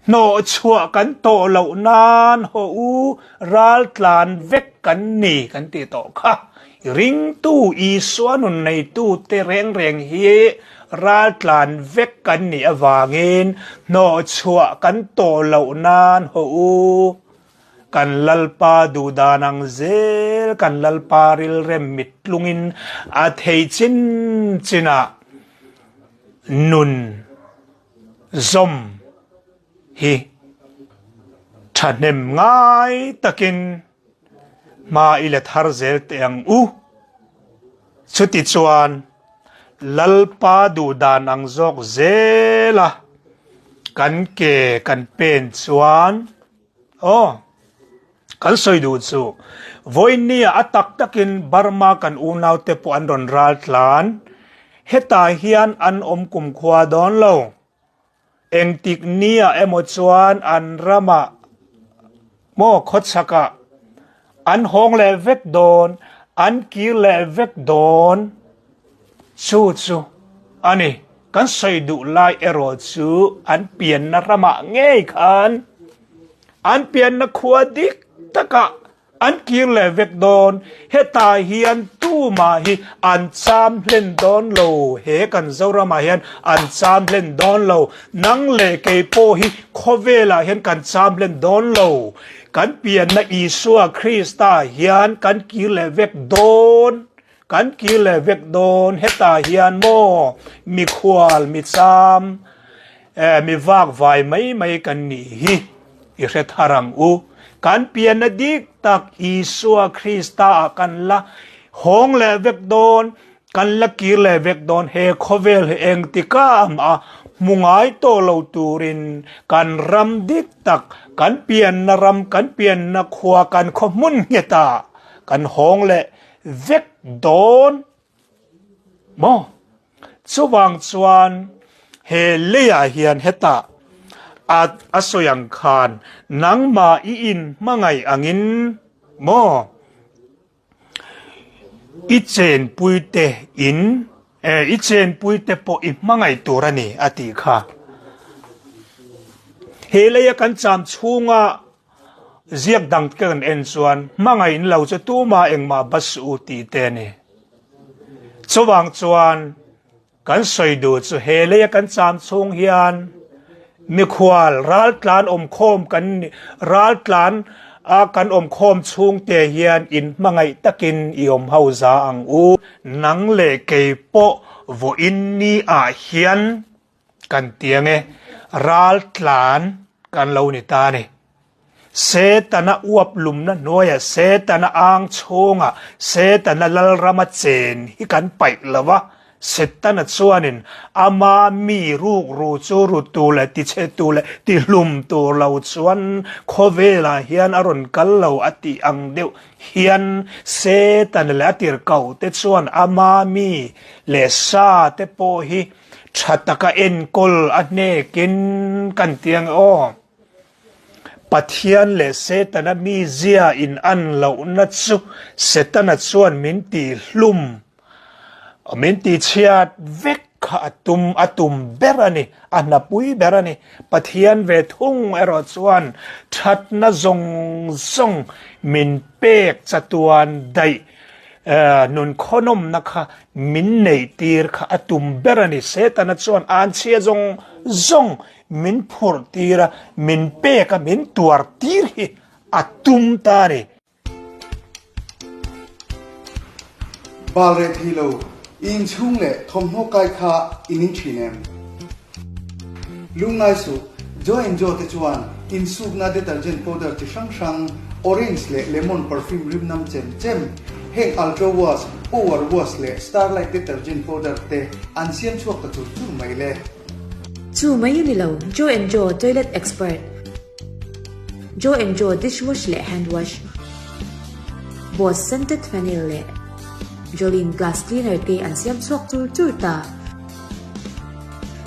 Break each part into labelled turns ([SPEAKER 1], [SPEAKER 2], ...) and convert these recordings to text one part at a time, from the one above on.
[SPEAKER 1] Hnawh chhuah kan tawh loh nan haw u, ral tlan vek kan ni kan ti tawh kha. I ringtu Isua nun neitute reng reng hi ral tlan vek kan nih avangin hnawh chhuah kan tawh loh nan haw u. Kan Lalpa duhdan ang zel, kan Lalpa rilrem mittlungin a thei chin chinah nun, zawm hi thahnem ngai takin hma i let har zel teh ang u. Chuti chuan Lalpa duh dan ang zawk zela kan ke kan pen chuan, Aw, kan sawi duh chu. Voinia a tak takin Burma kan unaute pawh an rawn ral tlan. Hetah hian an awm kumkhua dawn lo. Engtik nia emaw chuan an ramah maw khawchhakah An hawng leh vek dawn, an kir leh vek dawn chu chu a ni. Kan sawi duh lai erawh chu an pianna ramah ngei khan an pianna khua dik takah an kir leh vek dawn. Heta hian tumah hi an cham hlen dawn lo, he kan Zoramah hian an cham hlen dawn lo, nang leh kei pawh hi khawvelah hian kan cham hlen dawn lo. Kan pianna Isua Krista hian kan kir leh vek dawn, kan kir leh vek dawn heta hian maw, mikhual, micham, eh, mi vak vai mai mai kan nih hi i hrethar ang u. Kan pianna dik tak Isua Krista-ah kan la hawng leh vek dawn, Kan la kir leh vek dawn, he khawvel hi engtika a hmu ngai tawh lo turin kan ram dik tak, kan pianna ram, kan pianna khua, kan khawhmun ngheta kan hawng leh vek dawn maw? Chuvang chuan he leiah hian heta a sawi ang khan nangmah i inhmangaih angin maw? I chenpuite in eh, i chenpuite pawh i hmangaih tur a ni, a tih kha. He leia kan cham chhunga ziak dang te kan en chuan hmangaih in lo chu tuma engmah bus u tih te a ni. Chuvang chuan, Kan sawi duh chu he lei a kan cham chhung hian mikhual raltlan awmkhawm kan ni raltlan a kan awmkhawm chhung te hian in hmangaih takin i awm ho za ang u. Nang leh kei pawh vawiin ni ah hian kan tiang e raltlan kan lo ni ta a ni. Setana uap lumna hnuaia Setana âng chhunga Setana Lalrama chen hi kan paih lo va, Setana chuanin ama mi rukru chu rut tur leh tichhe tur leh tihlum tur lo chuan khawvelah hian a rawn kal lo a tih ang deuh hian Setana leh a tirhkohte chuan ama mi leh sate pawh hi tha taka enkawl a hnekin kan ti ang e aw. Pathian leh Setana mi zia in an lohna chu Setana chuan min tih hlum, min tih chhiat vek kha a tum, a tum ber a ni, a hnapui ber a ni. Pathian ve thung erawh chuan thatna zawng zawng min pek chatuan daih nun khawinawmna kha min neih tir kha a tum ber a ni. Setana chuan an chhia zawng zawng Min phur tir a, min pek a, min tuar tir hi a tum ta a ni. Bal reh thei lo, i inchhung leh thawmhnaw kai kha i ning thin em? Lung ngai suh, Joe and Joe te chuan insukna detergent powder chi hrang hrang, orange leh lemon perfume rimnam chem chem, heng Ultra Wash, Power Wash leh Starlight detergent powder te an siam chhuak ta chur chur mai le. Chu mai a ni lo, Joe and Joe toilet expert, Joe and Joe dish wash leh hand wash, Bose scented fennel leh Jolene glass cleaner te an siam chhuak chur chur ta.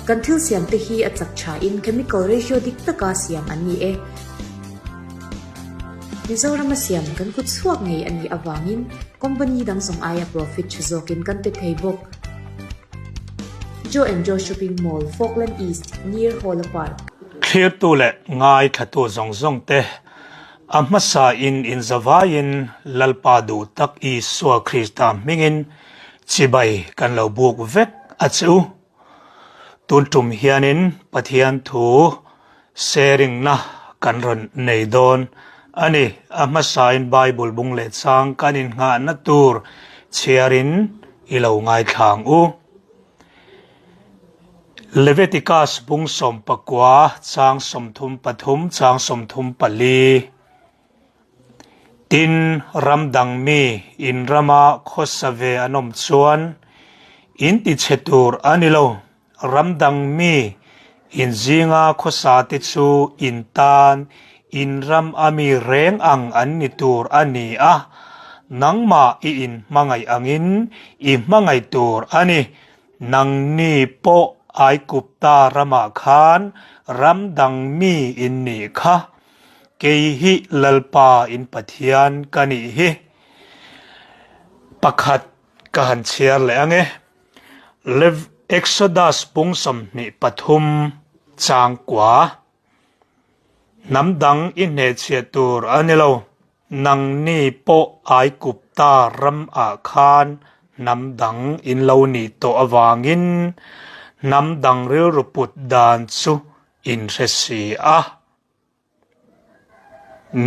[SPEAKER 1] Kan thil siam te hi a chak tha in chemical ratio dik taka siam an ni e. Mizoram a siam kan kut chhuak ngei a nih avangin company dang zong aia profit tha zawk in kan pe thei bawk. Joe and Joe Shopping Mall, Falkland East, near Hawla Park. Thlirtu leh ngaithlatu zawng zawng te a hmasa in inzavai in Lalpa duh tak Isua Krista hming in chibai kan lo buk vek a che u. Tun tum hian in Pathian thu Sharingna kan rawn nei dawn a ni. A hmasain Bible bung leh chang kan innghahna tur chhiarin i lo ngaithlang u. Leviticus bung sawm pakua chang sawmthum pathum chang sawmthum pali tin ram dang mi in rama khawsa ve an awm chuan in tichhe tur a ni lo. Ram dang mi in zinga khawsa te chu in tan in ram a mi reng ang an ni tur a ni a, nangmah i in hmangaih angin i hmangaih tur a ni. Nangni pawh ai Kupta ramah khan ram dang mi in nih kha, kei hi Lalpa in Pathian ka nih hi, pakhat ka han chhiar leh ang e. Lev. Exodus pung sawmhnih pathum chang kua hnam dang i hnehchhiah tur a ni lo. Nangni pawh Aigupta ram ah khan hnam dang in lo ni tawh avangin hnam dang rilru put dan chu in hre si a,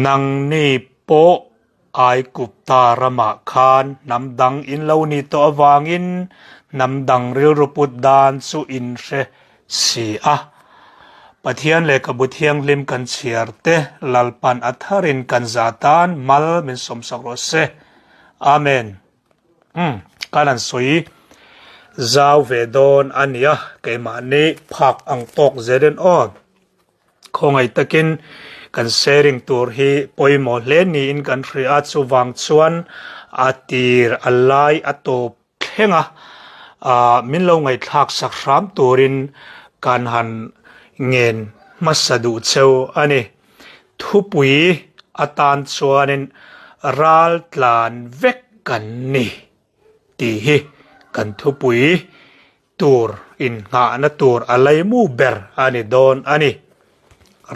[SPEAKER 1] Nangni pawh ai Kupta ramah khan hnam dang in lo ni tawh avangin hnam dang rilru put dan chu in hre si a. Pathian leh ka bu thianghlim kan chhiar te Lalpan a thar in kan za tan mal min sawmsak rawh se. Amen. Umm kan han sawi zau ve dawn a nia keimah ni phak ang tawk zel in aw. Khawngaih takin kan sharing tur hi pawimawh hle niin kan hria a, chuvang chuan a tir a lai a tawp thleng a, aah min lo ngaihthlak sak hram turin kan han ngen hmasa duh cheu a ni. Thupui atan chuanin ral tlan vek kan ni tih hi kan thupui tur innghahna tur a lei mu ber a ni dawn a ni.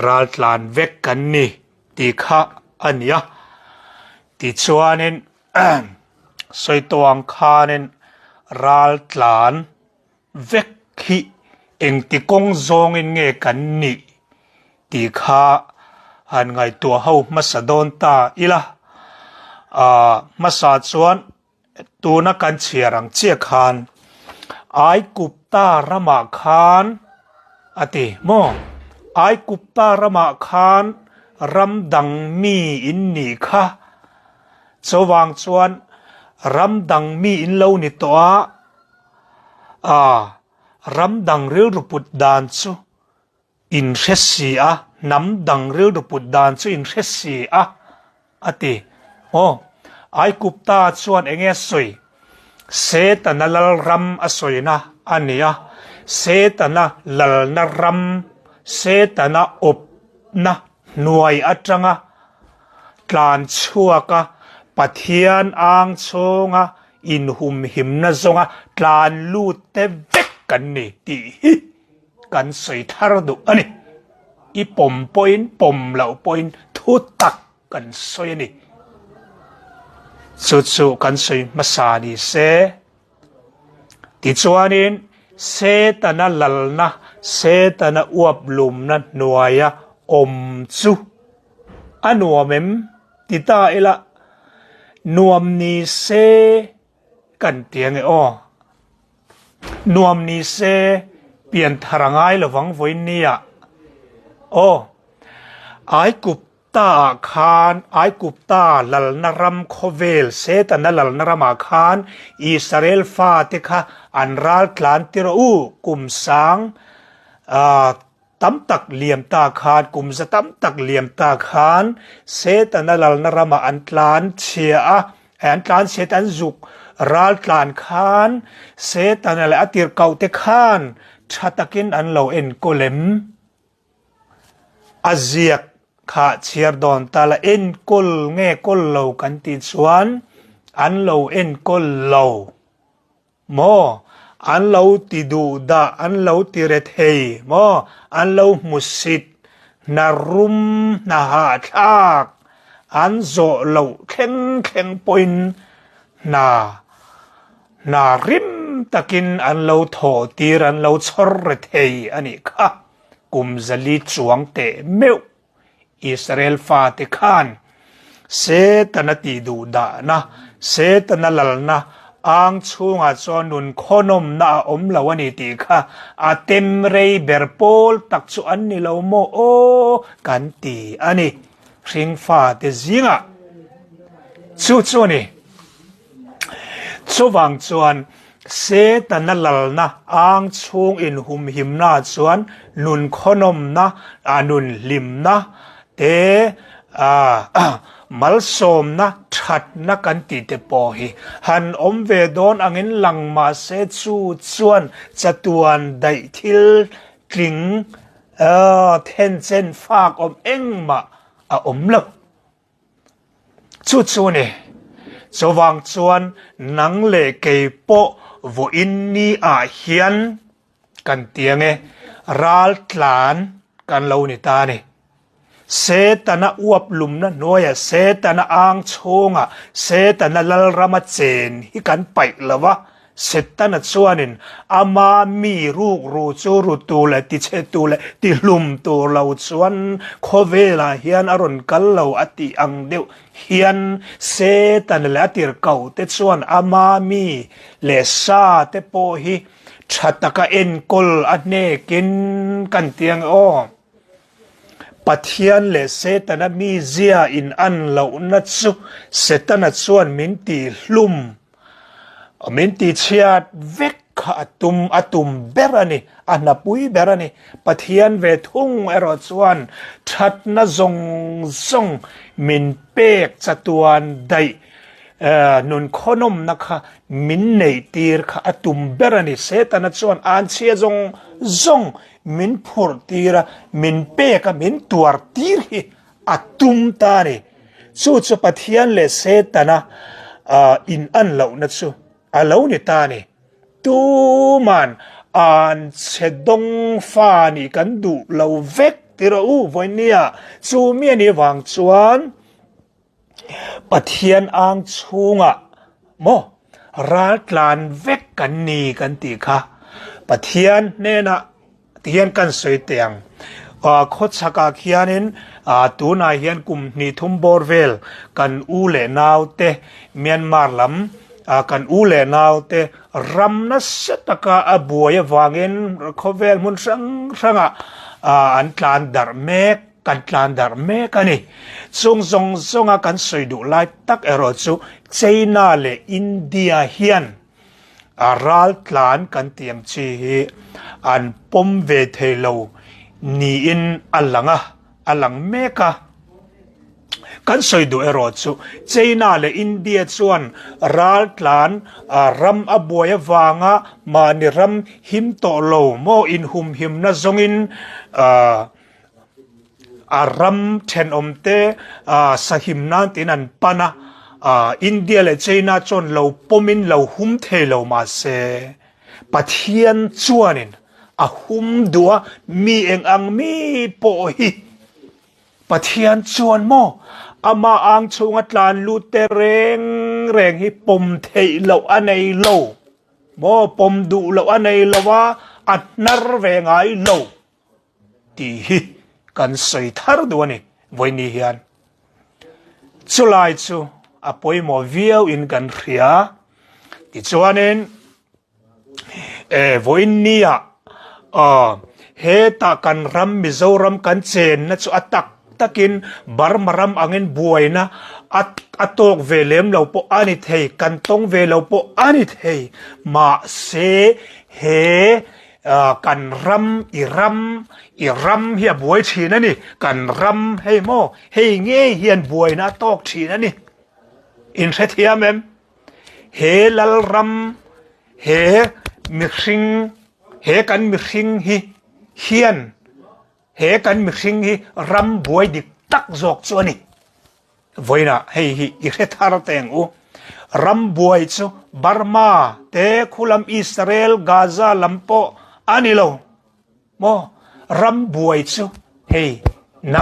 [SPEAKER 1] Raltlan vek kan ni tih kha a ni a. Tichuanin Sawitawng khanin raltlan vek hi engti kawng zawngin nge kan ni tih kha han ngaihtuah ho hmasa dawn ta ila. Ahh hmasa chuan Tuna kan chhiar ang chiah khan Aikupta ramah khan a ti maw? Aikupta ramah khan ram dang mi in ni kha. Chuvang chuan ram dang mi in lo ni tawh a, aa, ram dang rilru put dan chu In hre si a, hnam dang rilru put dan chu in hre si a, a ti. Aw, Aigupta chuan eng nge sawi? Setana lal ram a sawina a nia. Setana lalna ram, Setana awpna hnuai atanga tlan chhuaka Pathian ang chhunga inhumhimna zawnga tlan lutte vek kan ni tih hi kan sawi thar duh a ni. I pawm pawhin, pawm loh pawhin thu tak kan sawi a ni. Chu chu kan sawi hmasa ni se. Tichuanin Setana lalna, Setana uaplumna hnuaia awm chu a nuam em? Ti ta ila, nuam ni se Kan ti ange aw. Nuam ni se pian thar angai lovang vawiin nia aw. Aikup ta ah khan Aikup ta lalna ram khawvel setana lalna ram ah khan Israel fate kha an ral tlan tirh u kum sang a tam tak liam ta khan, kum za tam tak liam ta khan Setana lalna ramah an tlan chhia a, hei an tlan chhia te an zuk ral tlan khan Setana leh a tirhkohte khan tha takin an lo enkaw lem. A ziak kha chhiar dawn ta la, enkawl nge kawl lo kan tih chuan an lo enkawl lo. maw an lo ti duh dah an lo ti ret hei maw an lo hmu sit hna rum hna hah thlak an zawh loh thleng thleng pawhin hna hna hrim takin an lo thawh tir an lo chhawr ret hei a nih kha Kumzali chuang teh meuh Israel fate khan Setana tih duh dahna, Setana lalna âng chhûngah chuan nun khawhnawmna a awm lo a ni tih kha a tem rei ber pâwl tak chu an ni lo maw aw kan ti a ni. Hring fate zîngah chu chu a ni. Chuvang chuan Setana lalna âng chhûng inhumhimna chuan nun khawhnawmna, a nun hlimna te, malsâwmna ṭhatna kan tih te pawh hi han awm ve dawn angin lang mah se chu chuan chatuan daih thil tling then chen fâk awm engmah a awm lo. Chu chu ni. Chuvang chuan nang leh kei pawh vawiin ni ah hian kan ti ange, ral tlan kan lo ni ta ni. Setana uap lumna hnuaia Setana ang chhunga Setana lalrama chen hi kan paih lo va, Setana chuanin ama mi rukru chu rutu leh tichhetu leh tihlum tur lo chuan khawvelah hian a rawn kal lo a tih ang deuh hian Setana leh a tirhkohte chuan ama mi leh sa te pawh hi tha taka enkawl a hnekin ka an ti ang e aw. Pathian leh Setana mizia in an lohna chu Setana chuan min tihlum A min ti chhiat vek kha a tum a tum ber a ni, a hnapui ber a ni. Pathian ve thung erawh chuan thatna zawng zawng min pek chatuan daih nun khawinawmna kha min neih tir kha a tum ber a ni. Setana chuan anchhia zawng zawng min phurh tir a, min pek a, min tuar tir hi a tum ta a ni. Chu chu Pathian leh Setana in-an lohna chu a lo ni ta a ni. Tuman an che dawng fa nih kan duh lo vek ti rawh u Vawinia. Chu mi a nih vang chuan Pathian ang chhunga maw raltlan vek kan ni kan tih kha Pathian hnenah, Ti hian kan sawi teh ang. Khaw chhakah khianin tunah hian kum hnihthum bawr vel kan u leh naute Myanmar lam kan u leh naute ram nasa taka a buai avangin khawvel hmun hrang hranga an tlan darh mek, kan tlan darh mek a ni. Chung zawng zawnga kan sawi duh lai tak erawh chu China leh India hian. A ral tlan kan tih ang chi hi an pawm ve thei lo niin a lang a, a lang mek a. Kan sawi duh erawh chu, China leh India chuan ral tlan ram a buai avanga mahni ram him tawh lo maw inhumhimna zawngin a ram thenawmte sahim nan tiin an pan a, India leh China chuan lo pawmin lo hum thei lo mahse Pathian chuanin a hum duh a, mi eng ang mi pawh hi Pathian chuan maw amah ang chhunga tlan lutte reng reng hi pawm theih loh a nei lo maw, pawm duh loh a nei lo a, a hnar ve ngai lo. tih hi kan sawi thar duh a ni vawinih hian chulai chu a pawimawh viau in kan hria tichuanin e vawinia a he ta kan ram mizoram kan chen na chu a tak takin burma ram angin buaina a a tawk ve lem lo pawh a ni thei kan tawng ve lo pawh a ni thei mahse he Kan ram, i ram, i ram hi a buai thin a ni. Kan ram hei maw, hei ngei hian buaina a tawk thin a ni. In hrethiam em? He Lalram, he mihring, he kan mihring hi hian He kan mihring hi ram buai dik tak zawk chu a ni. Vawiina hei hi i hre thar teng u. Ram buai chu Burma te khulam Israel, Gaza lam pawh a ni lo maw? Ram buai chu hei nang.